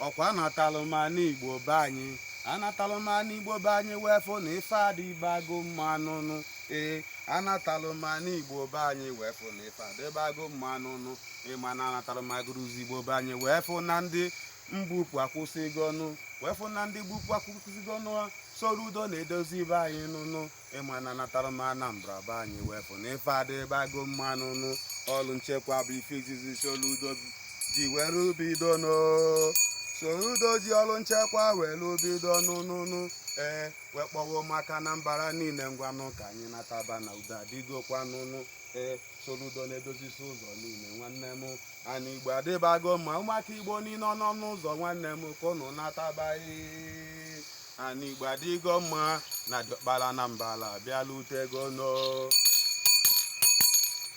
ọ kwa anatalụ m ana igbo be anyị anatalụ m ana igbo be anyị wee fụ na ife adịbago mma nụnụ ee anatalụ m ana igbo be anyị wee fụ na ife adịbago mma nụnụ ị ma na anatalụ m Aguluzigbo be anyị wee fụ na ndị mbupụ akwụsịgo nụ wee fụ na ndị mbupụ akwụsịgo nụ soludo na-edozi be anyị nụnụ ị ma na anatara m Anambra be anyị wee fụ na ife adịbago mma nụnụ ọrụ nchekwa bụ ife izizi soludo ji were bido no soludo ji ọrụ nchekwa were bido nụnụnụ ee wee kpọọ ụmụaka Anambra niile ngwanụ ka anyị nataba na udo adịgokwa nụnụ ee soludo na-edozisi ụzọ niile nwanne m ana igbo adịbago mma ụmụaka igbo niile ọ nọ n'ụzọ nwanne m ka ụnụ nataba ana igbo adịgo mma na diọkpara na mbala bịala ute ego nụ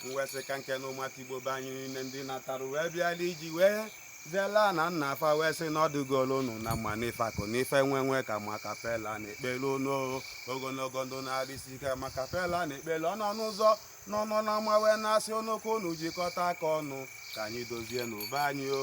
m wee sị ka m kene ụmụaka igbo be anyị niile ndị natara wee bịala iji wee zela ana nna fa wee sị na ọ dịgolu unu na mma n'ife akụ n'ife enwe enwe ka makapela na-ekpele unu ogologo ndụ na arụ isi ike makapela na-ekpele ọ nọ n'ụzọ na ọ nọ na ama wee na-asị unu ka unu jikọta aka ọnụ ka anyị dozienụ be anyị o